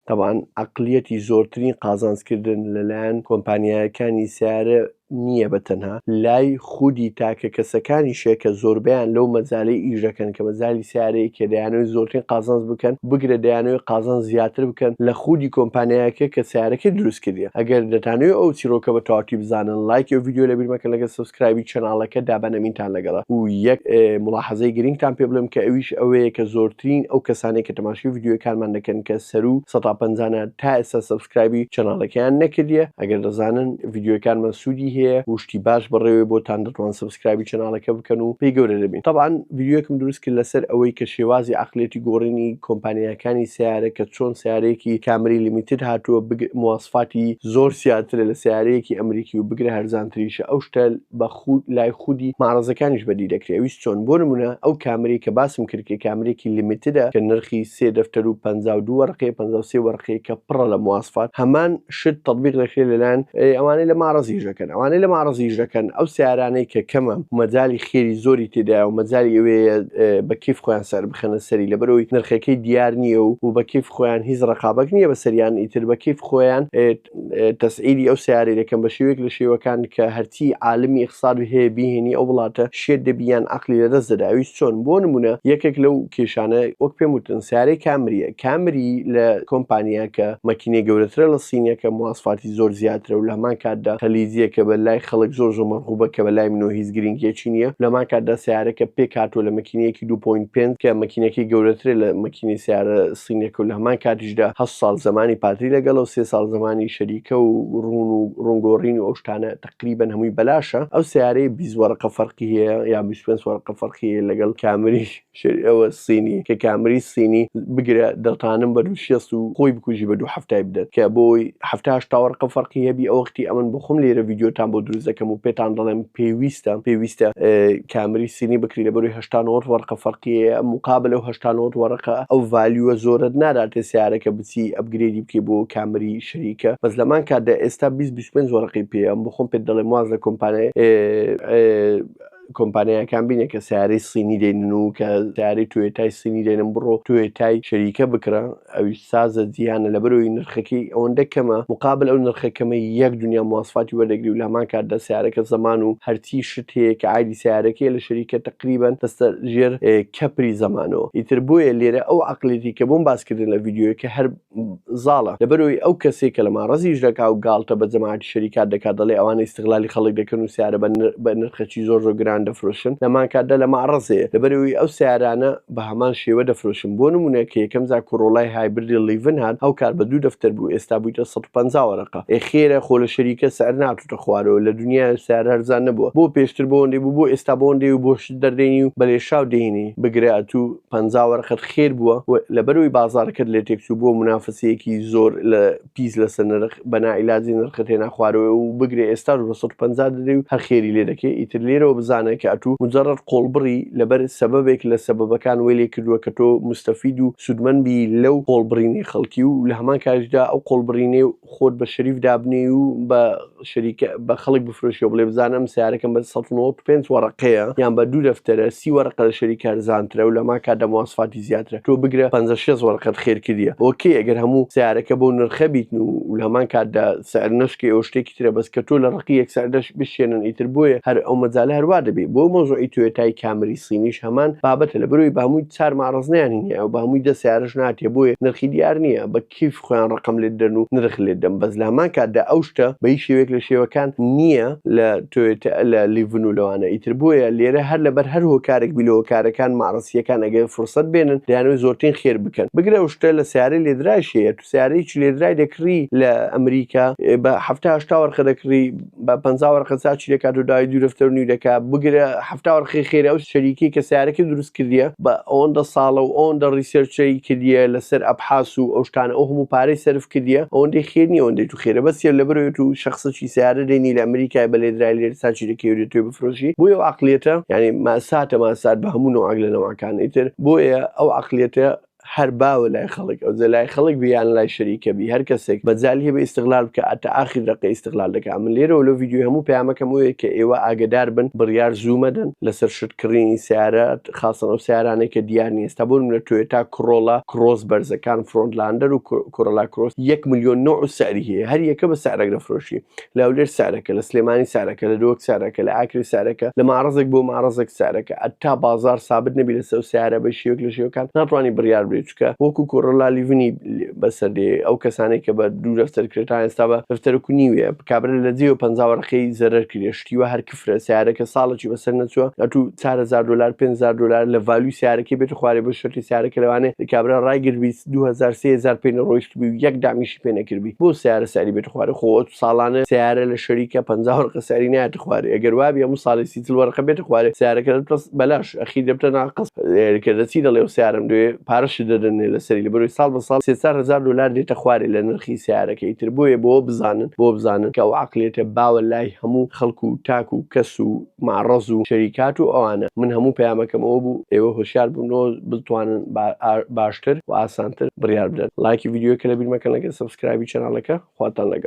تەبعەن عەقڵیەتی زۆرترین قازانج کردن لەلایەن کۆمپانیایەکانی سەیارە نییە بە تەنها، لای خودی تاکە کەسەکانیشە کە زۆربەیان لەو مەجالەی ئیش دەکەن کە مەجالی سەیارەیە کە دەیانەوێت زۆرترین قازانج بکەن بگرە دەیانەوێت قازانج زیاتر بکەن لە خودی کۆمپانیایەکە کە سەیارەکەی دروست کردیە ئەگەر دەتانەوێت ئەو چیرۆکە بە تەواوتی بزانن ڵایکی ئەو ڤیدیۆ لەبیر مەکەن لەگەر سەبسکرایبی چەناڵەکە دابەن ئەمینتان لەگەڵە و یەک موڵاحەزەی گرینگتان پێ بڵێم کە ئەویش ئەوەیە کە زۆرترین ئەو کەسانەی کە تەماشی ڤیدیۆی کارمان دەکەن کە سەرو سەتا پەنجانە تا ئێستا سەبسکرایبی چەناڵەکەیان نەکردیە ئەگەر دەزانن ڤیدیۆکانمان سوودی هەیە وشتی باش بەڕێوەی بۆتان دەتوان سەبسکرایبی چەناڵەکە بکەن و پێی گەورە دەبین تەبعاان ڤیدیۆکم دروست کرد لەسەر ئەوەی کە شێوازی عقلێتی گۆڕینی کۆمپانیاکانی سیارە کە چۆن سیارەیەکی کامری لیمیتد هاتووە بگ مواسفاتی زۆر سیاترە لە سیارەیەکی ئەمریکی و بگرە هەرزانتریشە ئەو شتە بە لای خودی مەعرەزەکانیش بەدی دەکرێ ئەویش چۆن بۆ نمونە ئەو کامرەی کە باسم کرد کە کامرەیەکی لیمیتدە کە نرخی سێ دەفتەر و پەنجا و دوو وەرەقەیە پەنجا و سێ وەرەقەیە کە پڕە لە مواسفات هەمان شت تەتبیق دەکرێ لەلایەن ئەوانەی لە مەعرەز ئیش دەکەن ئەوانەی لە مەعرەز ئیش دەکەن ئەو سیارانەی کە کەمە مەجالی خێری زۆری تێدایە و مەجالی ئەوەیە بە کیف خۆیان سەر بخەنە سەری لەبەرەوەی نرخەکەی دیار نییە و و بە کیف خۆیان هیچ ڕقابەت نییە بەسەریان ئیتر بە کیف خۆیان تەسعیری ئەو سەیارەی دەکەم بە شێوەیەک لە شێوەکان کە هەرچی عالمی ئیقساد هەیە بیهێنی ئەو وڵاتە شێت دەبی یان عەقلی لەدەست دەدا ئەویش چۆن بۆ نموونە یەکێک لەو کێشانە وەک پێم وتن سەیارەی کامریە کامری لە کۆمپانیا کە مەکینەی گەورەترە لە صینیەکە مواسفاتی زۆر زیاترە و لە هەمان کاتدا خلیجیە کە بە لای خەڵک زۆر زۆر مەرغوبە کە بە لای منەوە هیچ گرینگیەکی نیە لە هەمان کاتدا سەیارەکە پێکهاتووە لە مەکینەیەکی دوو پۆینت پێنج کە مەکینەکەی گەورەترە لە مەکینەی سەیارە سینەکە و لە هەمان کاتیشدا هەشت ساڵ زەمانی پادری لەگەڵە و سێ ساڵ زەمانی شەریکە و ڕوون و ڕوونگۆڕین و ئەو شتانە تەقریبەن هەمووی بەلاشە ئەو سەیارەیە بیست وەرەقە فەرقی هەیە یا بیست و پێنج وەرەقە فەرقی هەیە لەگەڵ کامری شەری ئەوە سینی کە کامری سینی بگرە دەتانم بە دوو شێست و خۆی بکوژی بە دوو هەفتای بدەت کە بۆی هەفتا هەشتا وەرەقە فەرقی هەبی ئەو وەختی ئەمن بۆ خۆم لێرە ڤیدیۆتان بۆ دروست دەکەم و پێتان دەڵێم پێویستە پێویستە کامری سینی بکری لەبەروی هەشتا نۆت وەرقە فەرقیەیە مقابلە و هەشتا نۆت وەرقە ئەو ڤالیوە زۆرت ناداتێ سیارەکە بچی ئەپگرێدی بکەی بۆ کامری شەریکە بەس لەمان کاتدا ئێستا بیست بیست و پێنج وەرقی پێیە ئەم بۆ خۆم پێت دەڵێم واز لە کۆمپانیای کۆمپانیاکان بینە کە سیارەی سینی دێنن و کە سیارەی توێتای سینی دێنن بڕۆ توێتای شەریکە بکڕە ئەویش سازە جیهانە لەبەرئەوەی نرخەکەی ئەوەندە کەمە مقابل ئەو نرخە کەمەی یەک دونیا مواسفاتی وەردەگری و لەهەمان کاتدا سەیارەکە زەمان و هەرچی شت هەیە کە عایدی سەیارەکەیە لە شەریکە تەقریبەن دەستە ژێر کەپری زەمانەوە ئیتر بۆیە لێرە ئەو عەقڵیەتی کە بۆم باس کردن لە ڤیدیۆیەکە هەر زاڵە لەبەرئەوەی ئەو کەسەی کە لە ماڕەزیش دەکا و گاڵتە بە جەماعەتی شەریکات دەکا دەڵێ ئەوانە ئیستغلالی خەڵک دەکەن و سەیارە بە نرخەکی زۆر زۆر گران دەفرۆشن لەهەمان کاتدا لە ماڕەزێ لەبەرئەوەی ئەو سەیارانە بە هەمان شێوە دەفرۆشن بۆ نمونە کە یەکەم جار کۆرۆلای هایبردی ڵیڤن هات ئەو کات بە دوو دەفتەر بوو ئێستا بویتە سەد و پەنجا وەرەقە ئێ خێرە خۆ لە شەریکە سعر ناتوتە خوارەوە لە دنیایە سعر هەرزان نەبوە بۆ پێشتر بەوەندەی بوو بۆ ئێستا بەوەندەی و بۆ شت دەردێنی و بە لێشاو دێنی بگرە ئەتو پەنجا وەرەقەت خێر بوە و لەبەرەوەی بازارەکەت لێتێکچوو بۆ منافەسەیەکی زۆر لە پیس لەسەر نرخ بە ناعیلاجی نرخت هێنا خوارەوەی و بگرە ئێستاش بە سەد و پەنجا دەدەی و هەر خێری لێ دەکەی ئیتر لێرەوە بزانە کە ئەتوو موجەڕەد قۆڵبڕی لەبەر سەبەبێک لە سەبەبەکان وەی لێ کردووە کە تۆ موستەفید و سوودمەند بی لەو قۆڵبڕینەی خەڵکی و لە هەمان کاتیشدا ئەو قۆڵبڕینەی خۆت بە شەریف دابنێی و بە شەریکە بە خەڵک بفرۆشیەوە بڵێ بزان ئەم سیارەکەم بە سەد و نەوەد و پێنج وەڕەقەیە یان بە دوو دەفتەرە سی وەرەقە لە شەریکە هەرزانترە و لە ما کادە مواصفاتی زیاترە تۆ بگرە پەنجا شێست وەرەقەت خێر کردیە ئۆکەی ئەگەر هەموو سیارەکە بەو نرخە بیتن و لە هەمان کاتدا سعر نەشکێ ئەوە شتێکی ترە بەس کە تۆ لە ڕەقی یەک سعردەش بشێنن ئیتر بۆیە هەر ئەو مەجالە هەروا دەبێ بۆ مەوزوعی تۆیۆتای کامری صینیش هەمان بابەتە لەبەرئەوەی بە هەمووی چار مەعرەز نیان هەیە و بە هەمووی دە سیارەش ناتێ بۆیە نرخی دیار نییە بە کیف خۆیان ڕقم لێت دەن و نرخ لێت دەم بەس لەهەمان کاتدا ئەو شتە بە هیچ شێوەیەک لە شێوەکان نییە لە تۆیۆتا لە لیڤن و لەوانە ئیتر بۆیە لێرە هەر لەبەر هەر هۆکارێک بی لە هۆکارەکان مەعرەسییەکان ئەگەر فرسەت بێنن دەیانەوێت زۆرترین خێر بکەن بگرە ئەو شتە لە سیارەی لێدرایش هەیە تو سیارەیەکی لێدرای دەکڕی لە ئەمریکا بە حەفتا هەشتا وەرقە دەکڕی بە پ وەرقە چا چ لەکات و داوای دوورەفتەر و نیورەکە بگرە هەفتا وەرقی خێرە ئەو شەریکی کە سیارەکە دروست کردیە بە ئەوەندە ساڵە و ئەوەندە ڕیسێرچەی کردیە لەسەر ئەبحاس و ئەو شتانە ئەو هەموو پارەی سەرف کردیە ئەوەندەی خێر نیە ئەوەندەی تو خێرە بەس یە لەبەرەوەی تو شەخسەکی سیارە دێنی لە ئەمریکای بە لێدرای لێر چا چی لەکەی و دێ توێ بفرۆشی بۆیە ئەو عەقڵیەتە یانی ماساتە ماسات بە هەموو نەوعەک لە نەوعەکان ئیتر بۆیە ئەو عەقڵیەتە هەر باوە لای خەڵک ئەوجە لای خەڵک بی یان لای شەریکە بی هەر کەسێک مەجالی هەبێ ئیستغلال بکا ئەتە ئاخیر دەقە ئیستغلال دەکا من لێرەوە لەو ڤیدیۆیە هەموو پەیامەکەم ئەوەیە کە ئێوە ئاگەدار بن بڕیار زوو مەدەن لەسەر شت کڕینی سەیارە خاسەن ئەو سەیارانەی کە دیار نیە ئێستا بۆ نمونە تۆیۆتا کڕۆڵا کرۆس بەرزەکان فرۆنت لاندەر و کۆرۆلا کرۆس یەک ملیۆن نەوع و سعری هەیە هەر یەکە بە سعرێک دەفرۆشی لە هەولێر سعرەکە، لە سلێمانی سعرەکە، لە دهۆک سعرەکە، لە ئاکرێ سعرەکە، لە مەعرەزێک بۆ مەعرەزێک سعرەکە. هەتا بازاڕ سابت نەبی لەسەر ئەو سەیارە بە شێوەیەک لە شێوەکان ناتوانی بڕیار بدەی چونکە وەکو کۆرۆلا لیڤنی بەسەر دێ ئەو کەسانەی کە بە دوو دەفتەر کرێ تا ئێستا بە دەفتەرەک و نیوێ کابرا لە جێ و پەنجا وەرەقەی زەرەر کریە شتی وا هەر کفرە سەیارەکە ساڵەکی بەسەر نەچووە ئەتوو چار هەزار دۆلار پێنج هەزار دۆلار لە ڤالیوی سەیارەکەی بێتە خوارێ بۆ شەرتی سەیارەکە لەوانێ کابرا ڕایگربی دوو هەزار سێ هەزار پێ نەڕۆیشتبی و یەک دامیش پێ نەکردبی بۆ سیارە ساری بێت خوارە خۆ ساڵانە سیارە لە شەریکە پ وەرقە ساری نایەت خوارێ ئەگەر وابی هەموو ساڵی سیتل وەرقە بێت خوارێ سیارەکە پس بەلاش ئەخی دەبتە ناقص کە دەچی دەڵێ و سیارم دوێ پارەش دەدەنێ لە سەری لە بەروی ساڵ بە ساڵ سێسار هزار دلار دێتە خوارێ لە نرخی سیارەکەی تر بۆیە بۆ بزانن بۆ بزانن کە و عقلێتە باوە لای هەموو خەڵکو و تاک و کەس و معرض و شەریکات و ئەوانە من هەموو پەیامەکەم ئەوە بوو ئێوە هۆشیار بنەوە بتوانن باشتر و ئاسانتر بڕیار بدەن لایکی ڤیدیۆکە لەبیر مەکەن لەگەر سەبسکرایبی چەناڵەکە خواتان لەگەڵ.